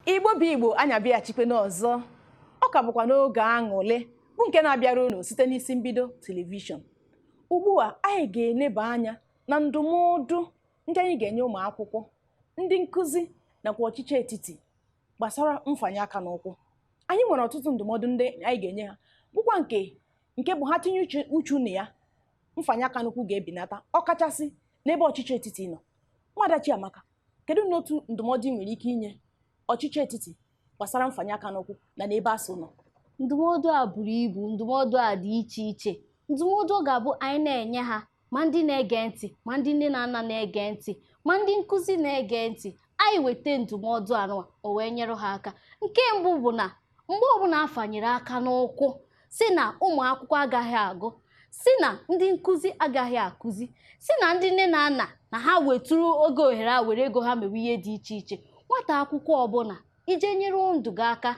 igbo bụ igbo anyị abịachikwe n'ọzọ ọ ka bụkwa n'oge aṅụlị bụ nke na-abịara unu site n'isi mbido telivishọn ugbu a anyị ga-eleba anya na ndụmọdụ ndị anyị ga-enye ụmụ akwụkwọ ndị nkụzi nakwa ọchịchị etiti gbasara mfanye aka n'ụkwụ anyị nwere ọtụtụ ndụmọdụ ndị anyị ga-enye ha bụkwa nke nke bụ ha tinye uchu- uchu na ya mfanye aka n'ụkwụ ga-ebenata ọkachasị n'ebe ọchịchị etiti nọ nwada chiamaka Kedu n'otu ndụmọdụ ị nwere ike inye ọchịchị etiti gbasara mfanye aka n'ụkwụ na n'ebe ASUU nọ? Ndụmọdụ a buru ibu, ndụmọdụ a dị iche iche. Ndụmọdụ ga-abụ anyị na-enye ha ma ndị na-ege ntị ma ndị nne na nna na-ege ntị ma ndị nkụzi na-ege ntị anyị weta ndụmọdụ anụwa o wee nyere ha aka nke mbụ bụ na mgbe ọbụla a fanyere aka n'ụkwụ sị na ụmụ akwụkwọ agaghị agụ sị na ndị nkụzi agaghị akụzi sị na ndị nne na nna na ha wetụrụ oge ohere a were ego ha mewe ihe dị iche iche nwata akwụkwọ ọbụla i jee nyere ndụ gị aka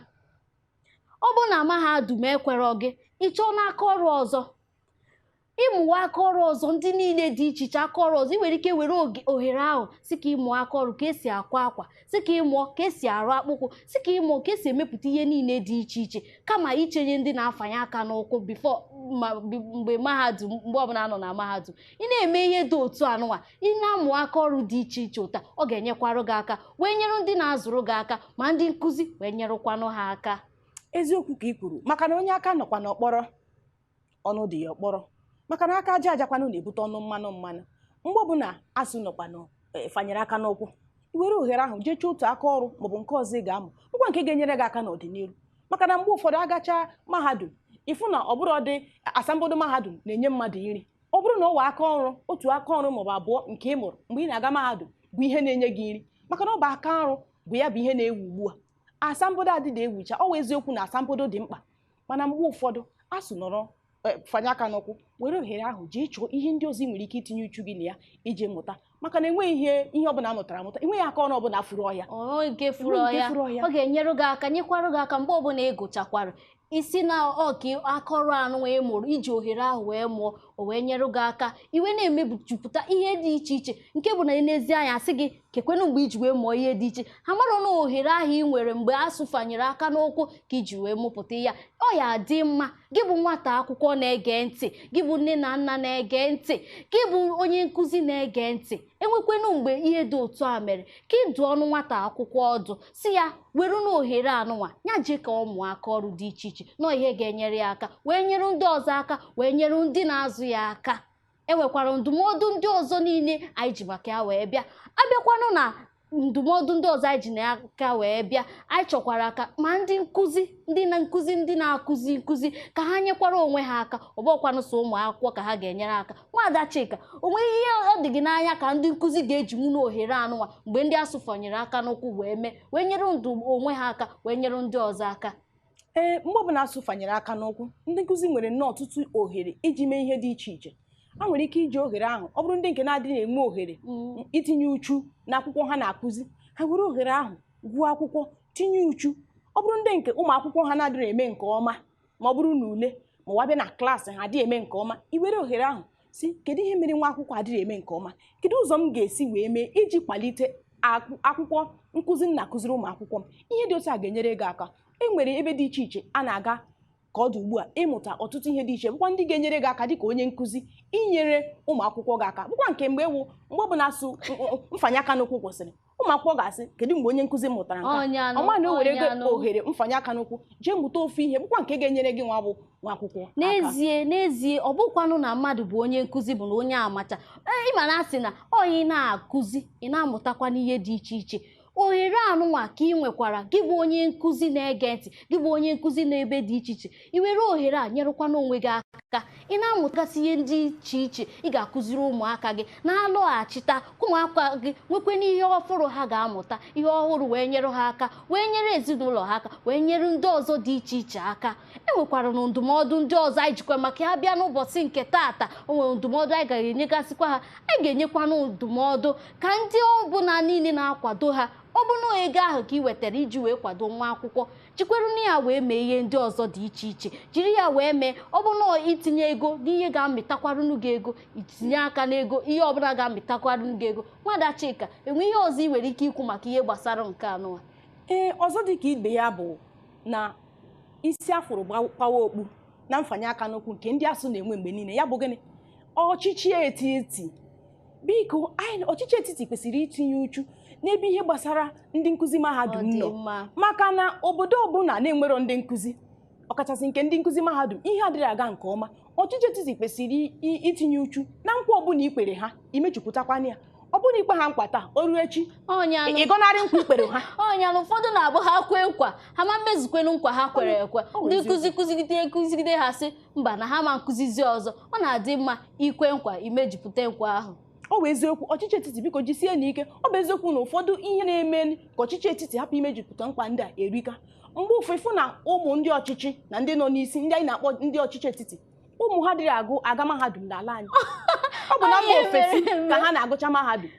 ọ bụrụ na mahadum ekwerọ gị ị chọọ n'aka ọrụ ọzọ ị mụwa aka ọrụ ọzọ ndị niile dị iche iche aka ọrụ ọzọ ị nwere ike were oge- ohere ahụ sị ka ị mụọ aka ọrụ ka e si akwa akwa sị ka ị mụọ ka e si arụ akpụkwụ sị ka ị mụọ ka e si emepụta ihe niile dị iche iche kama ichenye ndị na-afanye aka n'ụkwụ before ma bi- mgbe mahadum mgbe ọbụla nọ na mahadum ị na-eme ihe dị otu anụnwa ị na-amụ aka ọrụ dị iche iche ụta ọ ga-enyekwarụ gị aka wee nyere ndị na-azụrụ gị aka ma ndị nkụzi wee nyerụkwanụ ha aka eziokwu ka i kwuru maka na onye aka nọkwa n'ọkpọrọ ọnụ dị ya ọkpọrọ maka na aka aja ajakwanụ na-ebute ọnụ mmanụ mmanụ mgbe ọbụla asuu nọkwanụ e, fanyere aka n'ụkwụ i were ohere ahụ jee chọọ otu aka ọrụ maọbụ nke ọzọ ị ga-amụ bụkwa nke ga-enyere gị aka n'ọdịnihu maka na mgbe ụfọdụ a gacha mahadum ị fụ na ọ bụrọdị asambodo mahadum na-enye mmadụ nri ọ bụrụ na ọ wụ aka ọrụ otu aka ọrụ maọbụ abụọ nke ị mụrụ mgbe ị na-aga mahadum bụ ihe na-enye gị nri maka na ọ bụ aka ọrụ bụ ya bụ ihe na-ewu ugbu a asambodo adịda ewucha ọ wụ eziokwu na asambodo dị mkpa mana mgbe ụfọdụ asuu nọrọ e, fanye aka n'ụkwụ were ohere ahụ jee chọọ ihe ndị ọzọ ị nwere ike itinye uchu gị na ya iji mụta maka na enweghị ihe ihe ọbụla a mụtara amụta enweghị aka ọrụ ọbụla furu ọhịa o nweghị nke furu ọhịa. ọ ga-enyere gị aka nyekwarụ gị aka mgbe ọbụla ị gụchakwara isi na ọka aka ọrụ anụwa ị mụrụ i ji ohere ahụ wee mụọ o wee nyere gị aka i wee na-emejupụta ihe dị iche iche nke bụ na e nezie anya a sị gị kekwenụ mgbe i ji wee mụọ ihe dị iche ha mara na ohere ahụ ị nwere mgbe asuu fanyere aka n'ụkwụ ka i ji wee mụpụta ya ọ ya-adị mma gị bụ nwata akwụkwọ na-ege ntị gị bụ nne na nna na-ege ntị gị bụ onye nkụzi na-ege ntị e nwekwenụ mgbe ihe dị otu a mere ka ị dụọnụ nwata akwụkwọ ọdụ sị ya werenụ ohere anụnwa ya jee ka ọ mụọ aka ọrụ dị iche iche na ọ ihe ga-enyere ya aka wee nyere ndị ọzọ aka wee nyere ndị na-azụ ya aka enwekwara ndụmọdụ ndị ọzọ niile anyị ji maka ya wee bịa abịakwanụ na ndụmọdụ ndị ọzọ anyị ji n'aka wee bịa anyị chọkwara ka ma ndị nkụzi ndị na nkụzi ndị na-akụzi nkụzi ka ha nyekwara onwe ha aka ọ bụkwanụ sọ ụmụ akwụkwọ ka ha ga-enyere aka nwaada Chika o nweghị ihe ọ dị gị n'anya ka ndị nkụzi ga-ejinwu n'ohere anụnwa mgbe ndị ASUU fanyere aka n'ụkwụ wee mee wee nyere ndụ onwe ha aka wee nyere ndị ọzọ aka ee mgbe ọbụla ASUU fanyere aka n'ụkwụ ndị nkụzi nwere nnọọ ọtụtụ ohere iji mee ihe dị iche iche ha nwere ike iji ohere ahụ ọ bụrụ ndị nke na-adịghị enwe ohere mm, itinye uchu n'akwụkwọ ha na-akụzi ha were ohere ahụ gụọ akwụkwọ tinye uchu ọ bụrụ ndị nke ụmụ akwụkwọ ha na-adịghị eme nke ọma ma ọ bụrụ n'ule ma ọ bịa na klaasị ha adịghị eme nke ọma i were ohere ahụ sị kedu ihe mere nwa akwụkwọ adịghị eme nke ọma kedu ụzọ m ga-esi wee mee iji kwalite akwụ- akwụkwọ nkụzi m na-akụziri ụmụ akwụkwọ m ihe dị otu a ga-enyere gị aka e nwere ebe dị iche iche a na-aga ka ọ dị ugbu a ịmụta ọtụtụ ihe dị iche bụkwa ndị ga-enyere gị aka dịka onye nkụzi inyere ụmụ akwụkwọ gị aka bụkwa nke mgbe ewu mgbe ọ bụla ASUU mfanye aka n'ụkwụ kwụsịrị ụmụ akwụkwọ ga-asị kedu mgbe onye nkụzi mụtara nke a ọ ma na o were ohere mfanye aka n'ụkwụ jee mụta ofu ihe bụkwa nke ga-enyere gị nwa bụ nwa akwụkwọ aka. n'ezie n'ezie ọ bụkwanụ na mmadụ bụ onye nkụzi bụ na onye amacha Ee, ị ma na a sị na onye na-akụzi ị na-amụtakwa n'ihe dị iche iche ohere anụnwa ka ị nwekwara gị bụ onye nkụzi na-ege ntị gị bụ onye nkụzi n'ebe dị iche iche i were ohere a nyerụkwana onwe gị aka ị na-amụtasị ihe dị iche iche ị ga-akụziri ụmụaka gị na-alọghachita ka ụmụaka gị nwekwe n'ihe ọhụrụ ha ga-amụta ihe ọhụrụ wee nyere ha aka wee nyere ezinụlọ ha aka wee nyere ndị ọzọ dị iche iche aka e nwekwara na ndụmọdụ ndị ọzọ anyị jikwa maka ya bịa n'ụbọchị nke taata o nwere ndụmọdụ anyị ga-enyegasịkwa ha anyị ga-enyekwanụ ndụmọdụ ka ndị ọbụla niile na-akwado ha ọ bụ na ego ahụ ka ị wetara iji wee kwado nwa akwụkwọ jikweru na ya wee mee ihe ndị ọzọ dị iche iche jiri ya wee mee ọ bụ na itinye ego n'ihe ga-amịtakwarụnụ gị ego itinye aka n'ego ihe ọbụla ga-amịtakwarụnụ gị ego nwada Chika e nwee ihe ọzọ ị nwere ike ikwu maka ihe gbasara nke anụwa ee ọzọ dị ka ibe ya bụ na isi a fụrụ gba- kpawa okpu na mfanye aka n'ụkwụ nke ndị ASUU na-enwe mgbe niile ya bụ gịnị ọchịchị etiti biko ọchịchị etiti kwesịrị itinye uchu n'ebe ihe gbasara ndị nkụzi mahadum nọ maka na obodo ọbụla na-enwero ndị nkụzi ọkachasị nke ndị nkụzi mahadum ihe adịrị aga nke ọma ọchịchị etiti kwesịrị itinye uchu na nkwa ọbụla i kpere ha i mejupụtakwana ya ọ bụrụ i kpe ha nkwa taa o ruo echi ị gọnarị nkwa i kpere ha ọnyalụ ụfọdụ na-abụ ha kwee nkwa ha ma mmezukwenu nkwa ha kwere ekwe ndị nkụzi kụzigide kụzigide ha sị mba na ha ama akụzizi ọzọ ọ na-adị mma ikwe nkwa imejupụta nkwa ahụ ọ bụ eziokwu ọchịchị etiti biko jisienụ ike ọ bụ eziokwu na ụfọdụ ihe na-eme ka ọchịchị etiti hapụ imejupụta nkwa ndị a erika mgbe ụfọ ị fụ na ụmụ ndị ọchịchị na ndị nọ n'isi ndị anyị na-akpọ ndị ọchịchị etiti ụmụ ha adịrọ agụ aga mahadum n'ala anyị ọ bụ na mba ofesi ka ha na-agụcha mahadum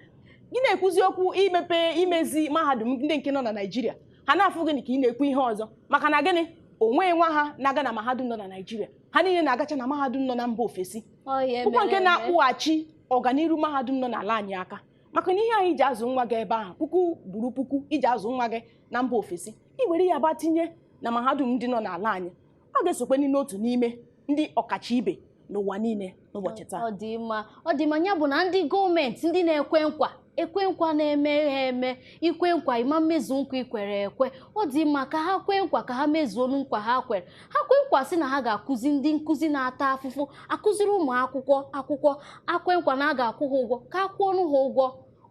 gị na-ekwuzi okwu imepe imezi mahadum ndị nke nọ na Naịjirịa ha na-afụ gịnị ka ị na-ekwu ihe ọzọ maka na gịnị onweghị nwa ha na-aga na mahadum nọ na Naịjirịa ha niile na-agacha na mahadum nọ na mba ofesi bụkwu nke na-akpụghachi ọganiru mahadum nọ n'ala anyị aka maka na ihe ahụ i ji azụ nwa gị ebe ahụ puku kwuru puku i ji azụ nwa gị na mba ofesi i were ya bịa tinye na mahadum ndị nọ n'ala anyị ọ ga-esokwe n'otu n'ime ndị ọkacha ibe n'ụwa niile n'ụbọchị taa ọ dị mma ọ dị mma ya bụ na ndị gọọmenti ndị na-ekwe nkwa ekwe nkwa na-emeghị eme i kwe nkwa ị ma emezu nkwa i kwere ekwe ọ dị mma ka ha kwee nkwa ka ha mezuo nkwa ha kwere ha kwee nkwa sị na ha ga-akụzi ndị nkụzi na-ata afụfụ akụziri ụmụ akwụkwọ akwụkwọ ha kwe nkwa na a ga-akwụ ha ụgwọ ka a kwụọnụ ha ụgwọ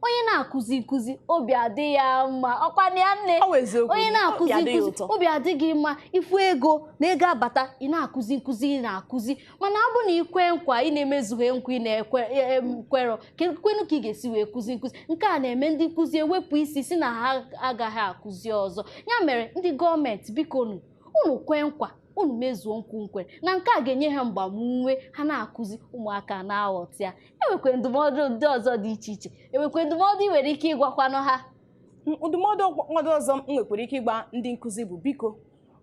onye na-akụzi nkụzi obi adị ya mma ọ kwa ya nne Ọ wụ eziokwu. onye na-akụzi Obi adị ya nkụzi ụtọ. obi adịghị mma ị fụ ego na ego abata ị na-akụzi nkụzi ị na-akụzi mana ọ bụ na ikwe nkwa ị na-emezughị nkwa ị na-ekwerọ kwenu ka ị ga-esi wee kụzi nkụzi nke a na-eme ndị nkụzi ewepụ isi sị na ha agaghị akụzi ọzọ ya mere ndị gọọmenti bikonụ unu kwe nkwa unu mezuo nkwa unu kwere na nke a ga-enye ha mgbamume ha na-akụzi ụmụaka na-aghọta ya enwekwe ndụmọdụ ndị ọzọ dị iche iche enwekwe ndụmọdụ ị nwere ike ịgwakwanụ ha ndụmọdụ ọzọ m nwekwara ike ịgwa ndị nkụzi bụ biko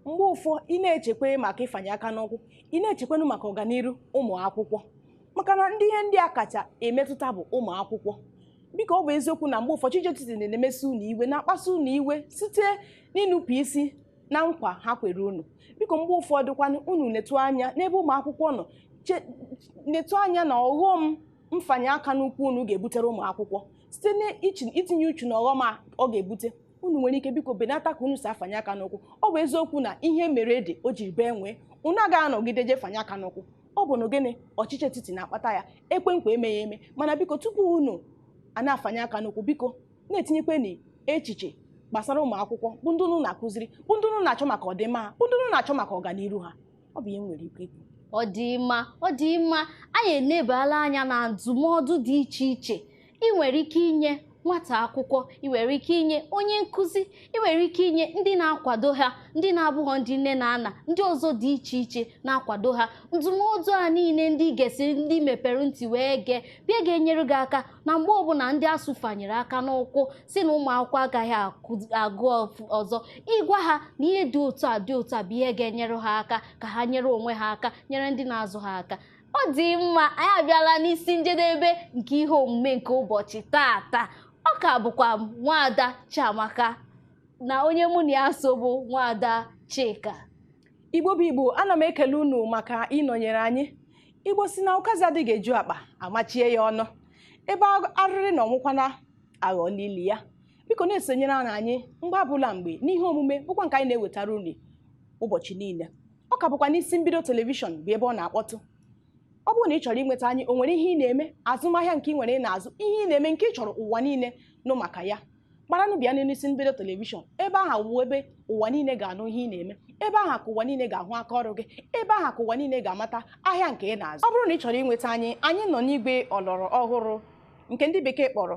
mgbe ụfọ ị na-echekwa maka ịfanye aka n'ụkwụ ị na-echekwanụ maka ọganiru ụmụ akwụkwọ maka na ndị ihe ndị a kacha emetụta bụ ụmụ akwụkwọ biko ọ bụ eziokwu na mgbe ụfọ ọchịchị etiti na-emesi unu iwe na-akpasu unu iwe site n'inupụ isi na nkwa ha kwere unu biko mgbe ụfọdụ kwanụ unu netụ anya n'ebe ụmụ akwụkwọ nọ che- netụ anya na ọghọm mfanye aka n'ụkwụ unu ga-ebutere ụmụ akwụkwọ site n'itinye uchu na ọghọm a ọ ga-ebute unu nwere ike biko benata ka unu si afanye aka n'ụkwụ ọ bụ eziokwu na ihe mere ede o jiri bee nwee unu agaghị anọgide je fanye aka n'ụkwụ ọ bụ na gịnị ọchịchị etiti na-akpata ya ekwe nkwa emeghị eme mana biko tupu unu ana-afanye aka n'ụkwụ biko na-etinyekwenụ echiche gbasara ụmụ akwụkwọ bụ ndị unu na-akụziri bụ ndị unu na-achọ maka ọdịmma ha bụ ndị unu na-achọ maka ọganiru ha ọ bụ ihe m nwere ike ikwu ọ dị mma ọ dị mma anyị enebala anya na ndụmọdụ dị iche iche ị nwere ike inye nwata akwụkwọ ị nwere ike inye onye nkụzi ị nwere ike inye ndị na-akwado ha ndị na-abụghọ ndị nne na nna ndị ọzọ dị iche iche na-akwado ha ndụmọdụ a niile ndị gesịrị ndị mepere ntị wee gee bịa ga-enyere gị aka na mgbe ọbụla ndị ASUU fanyere aka n'ụkwụ si na ụmụ akwụkwọ agaghị agụ ọzọ ịgwa ha na ihe dị otu a dị otu a bụ ihe ga-enyere ha aka ka ha nyere onwe ha aka nyere ndị na-azụ ha aka ọ dị mma anyị abịala n'isi njedebe nke ihe omume nke ụbọchị tata ọ ka bụkwa m nwaada Chiamaka na onye mụ na ya so bụ nwaada Chika igbo bụ igbo ana m ekele unu maka ịnọnyere anyị igbo si na ụkazị adịghị eju akpa amachie ya ọnụ ebe a- arịrị nọ nwụkwanụ aghọọla ili ya biko na-esonyere anyị anyị mgbe ọbụla mgbe n'ihe omume bụkwa nke anyị na-ewetara unu ụbọchị niile ọ ka bụkwa n'isi mbido telivishọn bụ ebe ọ na-akpọtụ ọ bụrụ na ị chọrọ inweta anyị o nwere ihe ị na-eme azụmahịa nke ị nwere ị na-azụ ihe ị na-eme nke ị chọrọ ụwa niile nụ maka ya gbaranụ bịa n'elu isi mbido telivishọn ebe aha wụ ebe ụwa niile ga-anụ ihe ị na-eme ebe aha ka ụwa niile ga-ahụ aka ọrụ gị ebe aha ka ụwa niile ga-amata ahịa nke ị na-azụ ọ bụrụ na ị chọrọ inweta anyị anyị nọ n'igwe ọlọrọ ọhụrụ nke ndị bekee kpọrọ